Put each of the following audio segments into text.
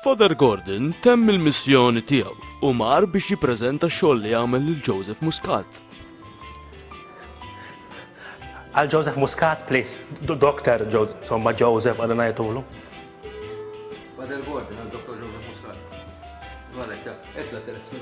Father Gordon temm il-missjoni tiegħu u mar biex jippreżenta x-xogħol li għamel lil Joseph Muscat. Għal Joseph Muscat, please. Dr. Joseph, somma Joseph għal najtulu. Father Gordon għal Dr. Joseph Muscat. Għalek, etla telef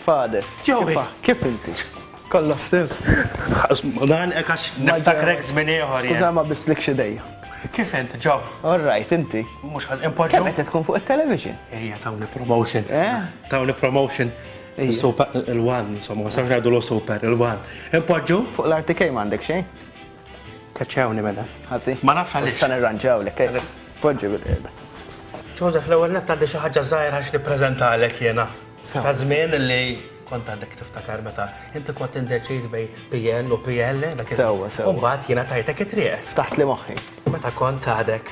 Fade. Joey. Kif inti? Kollha stil. Dan hekk għax niftakrek żmien ieħor. Skuża ma bislik xi dejja. Kif int, ġob? All right, inti. Mhux ħaż importu. Kemm qed tkun fuq it-television? Ejja, tawni promotion. Eh? Tawni promotion. Super il-wan, insomma, ma sarx ngħidu super il-wan. Impoġġu? Fuq l-RTK m'għandek xejn? Kaċċawni mela. Ħasi? Ah, Ma nafx għaliex. Issa nirranġaw lek. eh? Foġġi bil-qiegħda. Joseph, l-ewwel nett għandi xi ħaġa żgħira xi nippreżentalek jiena. Sew. Ta' żmien li kont għandek tiftakar meta inti kont indeċiż bej PN u PL dak Sewwa, sewwa. U mbagħad jiena tajtek it-triq Ftaħt li moħħi. meta kont għadek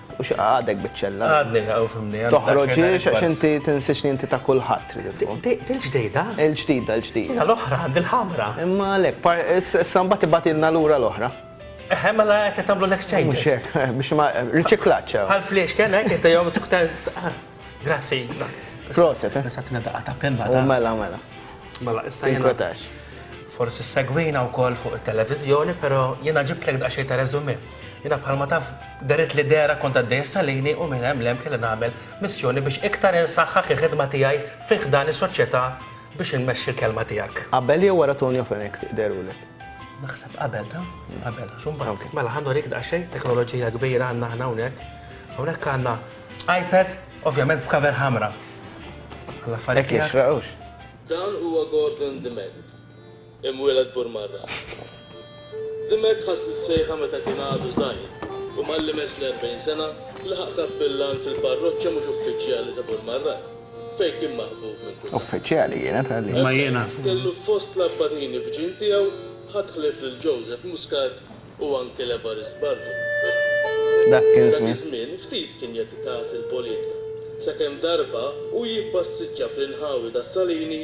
U xi għadek biċċella. Għadni u fimni. Toħroġiex għax inti tinsiex li inti ta' kulħadd trid tkun. Il-ġdida? Il-ġdida, il-ġdida. Jiena l-oħra, għandi l-ħamra. Imma għalek, issa mbagħad ibatilna lura l-oħra. Eħe, mela jekk tagħmlu l-exchange. Mhux hekk, eh, biex ma riċiklaċċa. Għal fliex kien hekk inti jew ah, Grazzi. Proset, eh. Nisa tina daqqa ta' penna. U mela, mela. Mela, issa jiena. Forsi segwina wkoll fuq it-televiżjoni, però jiena ġibtlek daqsxejn ta' reżumi. Jina bħalma taf daret li dera kont għaddej salini u minn hemm lem kelli nagħmel missjoni biex iktar insaħħaħ il-ħidma tiegħi fi ħdan is-soċjetà biex inmexxi l-kelma tiegħek. Qabel jew wara Tonio Fenech derulek? Naħseb qabel ta' qabel. Xumba, mela ħandu rik daqsxejn teknoloġija kbira għandna aħna hawnhekk. Hawnhekk għandna iPad, ovvjament f'kaver ħamra. Għalla affarijiet. Dawn huwa Gordon Demet. Imwieled Burmarra. Dimech ħass is-sejħa meta kien għadu żgħir u malli mess l-erbgħin sena laħaq kappillan fil-parroċċa mhux uffiċjali ta' Burmarra, fejn kien maħbub minn kulħadd. Uffiċjali kienet għalih. Imma jiena. Hemmhekk kellu fost l-abbatini f'ġinn tiegħu ħadd ħlief lil Joseph Muscat u anki l-Evarist Bardu. F'dak F'dak iż-żmien. iż-żmien ftit kien jagħti kas il-politika, sakemm darba hu jippassiġġa fl-inħawi tas-Salini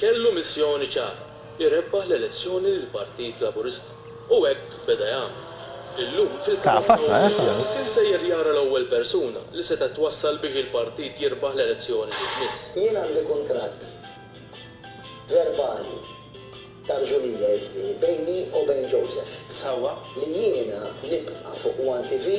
Kellu missjoni ċara, irebbaħ l-elezzjoni lill-Partit Laburista. U hekk beda jagħmel. Illum fil-Kamra Ewropea kien sejjer jara l-ewwel persuna li setgħet twassal biex il-Partit jirbaħ l-elezzjoni li jmiss. Jien għandi kuntratt verbali ta' rġulija, jiġifieri bejni u bejn Joseph. Sewwa. Li jiena nibqa' fuq one TV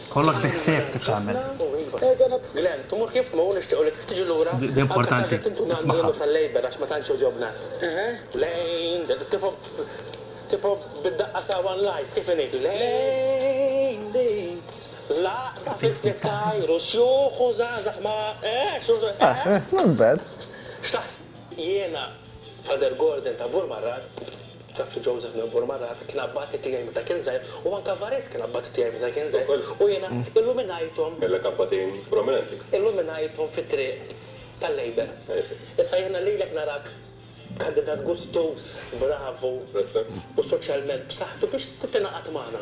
Kollox bi ħsieb trid tagħmel. Jafri Joseph minn Burmarrat kien abbati tiegħi meta kien żgħir u anke Vares kien abbati tiegħi meta kien żgħir u jiena illuminajthom. Kellek abbatin prominenti. Illuminajthom fit-triq tal-Labour. Issa jiena lilek narak kandidat gustuż, bravu u soċjalment b'saħħtu biex tingħaqad magħna.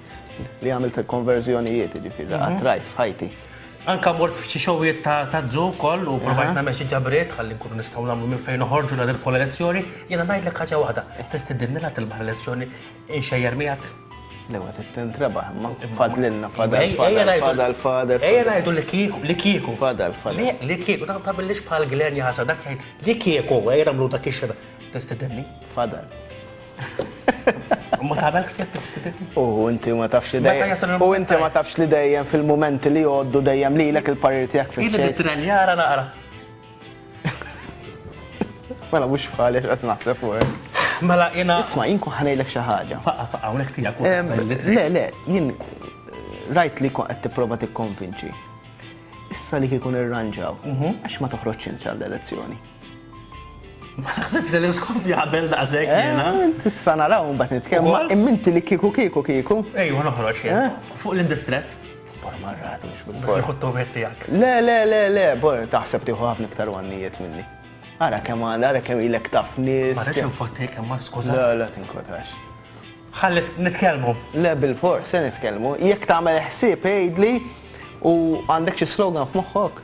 Li għamilt il-konverżjonijiet, ġifiri, għatrajt mhm. f'ħajti. Anka mort f'xi xogħlijiet ta' ta' dżu wkoll u provajt nagħmel xi ġabriet ħalli nkunu nistgħu nagħmlu minn fejn noħorġu la nirbħu l-elezzjoni, jiena ngħidlek ħaġa waħda, tistidinni la tilbaħ l-elezzjoni inxejjer miegħek. Lewa t-tent rebaħ, ma fadlinna fadal fadal fadal. Ejja ngħidu li kieku, li kieku. Fadal fadal. Li kieku, ta' ta' billix bħal glen jasa dak jgħid, li kieku, ejja nagħmlu dak ix-xena. Tistidinni? Fadal. Ma tagħmel ħsieb kif stipitni. U inti ma tafx li dejjem. U inti ma tafx li dejjem fil-mumenti li jgħoddu dejjem lilek il-parir tiegħek fil Jien nitrenjara naqra. Mela mhux bħalek qed naħseb fuq. Mela jiena. Isma' jien kun ħanejlek xi ħaġa. Faqqa faqqa hawnhekk tiegħek. Le le, jien rajt li qed tipprova tikkonvinċi. Issa li kikun irranġaw, mhm. għax ma toħroġx intra l-elezzjoni. Ma naħsibx li l-iskof jaqbel daqshekk eh, jiena. Tista' naraw mbagħad nitkellmu. Imminti li kieku kieku kieku. Ejwa noħroġ jien. Eh? Fuq l-indistret. Bor marratu biex nħottu tiegħek. Le, le, le, le, bor taħseb tieħu ħafna iktar għannijiet minni. Ara kemm għandha, ara kemm ilek taf nies. Ma rridx nfotti kemm ma skuża. Le, le tinkotax. Ħalli nitkellmu. Le bil-fors se nitkellmu. Jekk tagħmel ħsieb għidli u għandek xi slogan f'moħħok.